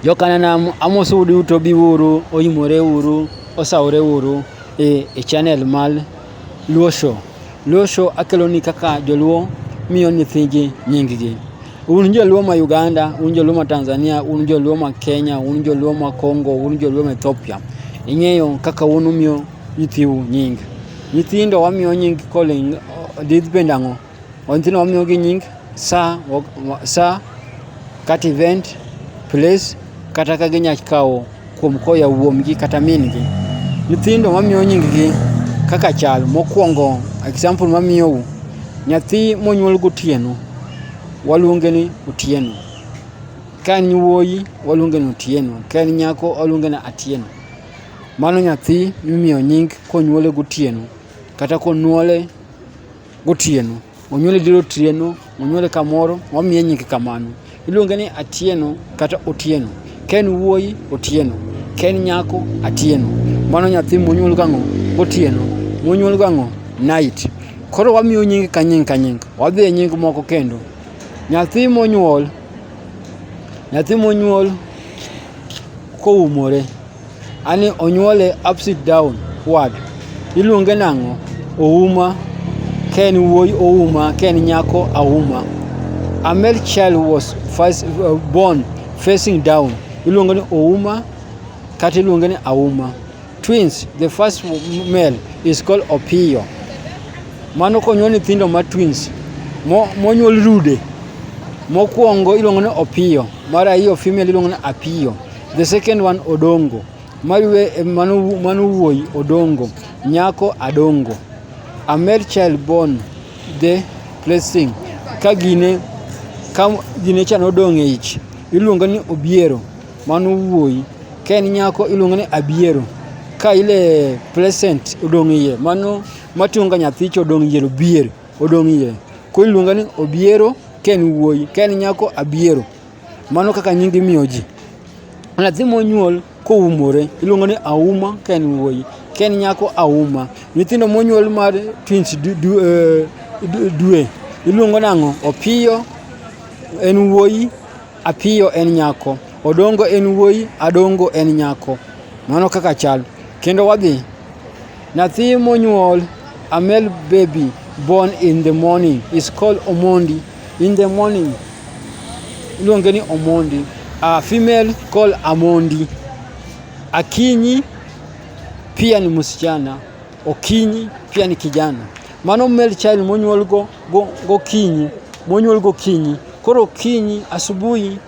Jokananam amosou duto biuru oyimore uru osawore uru e, e channel mar Luo Show. Luo Show akeloni kaka joluo miyo nyithigi nyinggi. Un joluo ma Uganda, un joluo ma Tanzania, un joluo ma Kenya, un joluo ma Congo, un joluo ma Ethiopia. Ing'eyo kaka un umiyo nyithiu nying. Nyithindo wamiyo nying koling' didh bend ang'o? Ontino wamiyo gi nying sa, sa kata event, place kata ka ginya kawo kuom koya wuomgi kata mingi. Nyithindo wamiyo nying gi kaka chal. Mokwongo example mamiyou, nyathi monyuol gotieno waluonge ni Otieno. Ka en wuoyi waluonge ni Otieno, ka en nyako waluonge ni Atieno. Mano nyathi mimiyo nying konyuole gotieno kata konyuole Gotieno. Onyuole diro otieno, onyuole kamoro, wamiye nyinge kamano. Iluonge ni Atieno kata Otieno. Ka en wuoyi, Otieno. Ka en nyako, Atieno. Mano nyathi monyuol gang'o? Gotieno. Monyuol gang'o? Night. Koro wamiyo nying ka nying ka nying. Wadhi e nying moko kendo. Nyathi monyuol, nyathi monyuol koumore. Ani onyuole upside down wad. Iluonge nang'o? Ouma. Ka en wuoyi Ouma, ka en nyako Auma. A male child was first uh, born facing down. Iluonge ni Ouma kata iluonge ni Auma. Twins, the first male is called Opiyo. Mano konyuol nyithindo ma twins mo- monyuol rude. Mokwongo iluongo ni Opiyo, mar ariyo female iluongo ni Apiyo. The second one Odongo. Mariwe eh, manu manu wuoyi Odongo. Nyako Adongo. A male child born the blessing. Ka gine ka gine cha nodong' e ich. Iluongo ni Obiero. Mano wuoyi. Ka en nyako iluongo ni Abiero. Ka ile present odong' iye. Mano matunga nyathi cha odong' iye Obiero. Odong' iye. Koro iluongo ni Obiero ka en wuoyi. Ka en nyako Abiero. Mano kaka nyingi miyo ji. Nyathi monyuol koumore iluongo ni auma ka en wuoyi, ka en nyako auma. Nyithindo monyuol mar twins eh, dwe iluongo nang'o? Opiyo en wuoyi, apiyo en nyako. Odongo en wuoyi, adongo en nyako. Mano kaka chal. Kendo wadhi. Nyathi monyuol, a male baby born in the morning is called Omondi. In the morning, iluonge ni Omondi. A female called Amondi. Akinyi pia ni msichana, Okinyi pia ni kijana. Mano male child monyuol go, go, gokinyi, monyuol gokinyi. Koro okinyi, asubuhi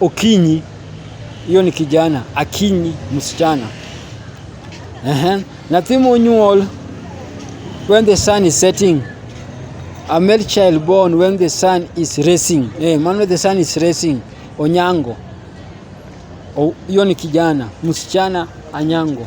Okinyi, hiyo ni kijana. Akinyi, msichana. Ehe. Nathi monyuol when the sun is setting. A male child born when the sun is rising. Eh, man when the sun is rising. Onyango. O- Hiyo ni kijana. Msichana Anyango.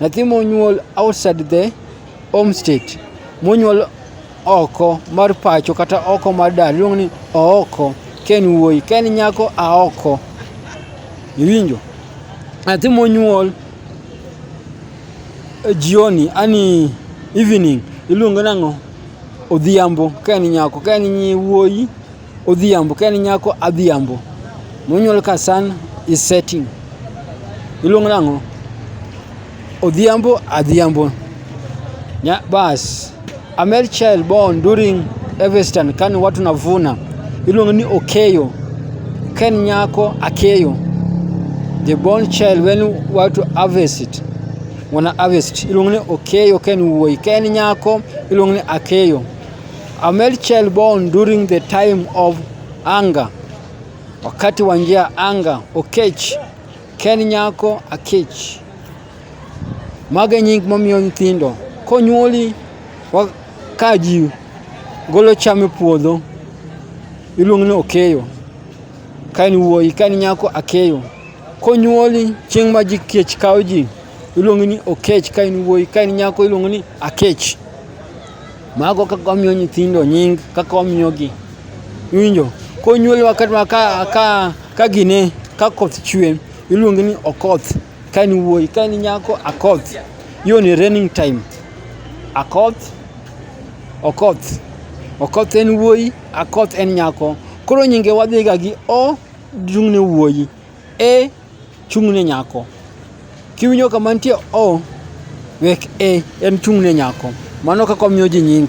Nathi monyuol outside the home state, monyuol oko mar pacho kata oko mar dala iluongo ni ooko, ka en wuoyi, ka en nyako aoko. Iwinjo? Nathi monyuol e jioni, ani evening, iluongo nang'o? Odhiambo ka en nyako, ka en wuoyi Odhiambo, ka en nyako Adhiambo. Monyuol ka sun is setting. Iluongo nang'o? Odhiambo, Adhiambo. Nya, bas. A male child born during Evestan kani watu navuna. Iluongo ni Okeyo. Ka en nyako Akeyo. The born child when watu harvest. Wana harvest. Iluongo ni Okeyo ka en wuoyi. Ka en nyako iluongo ni Akeyo. A male child born during the time of anger, wakati wa njia anga. Okech ken nyako akech. Mage nying momiyo nyithindo konyuoli ka ji golo cham e puodho iluongo ni okeyo. Ka en wuoyi ka en nyako akeyo. Konyuoli chieng' ma ji kech kawo ji iluongo ni okech. Ka en wuoyi ka en nyako iluongo ni akech. Mago kaka wamiyo nyithindo nying, kaka wamiyogi. Iwinjo? Konyuolwa kata ka, ka, ka gine, ka koth chwe, iluonge ni okoth. Ka en wuoyi, ka en nyako, akoth. Hiyo ni raining time. Akoth, okoth. Okoth en wuoyi, akoth en nyako. Koro nyinge wadhiga gi o dung'ne wuoyi. E Chung' ne nyako. Kiwinjo kama nitie O, wek E, en chung' ne nyako. Mano kaka omiyo ji nying.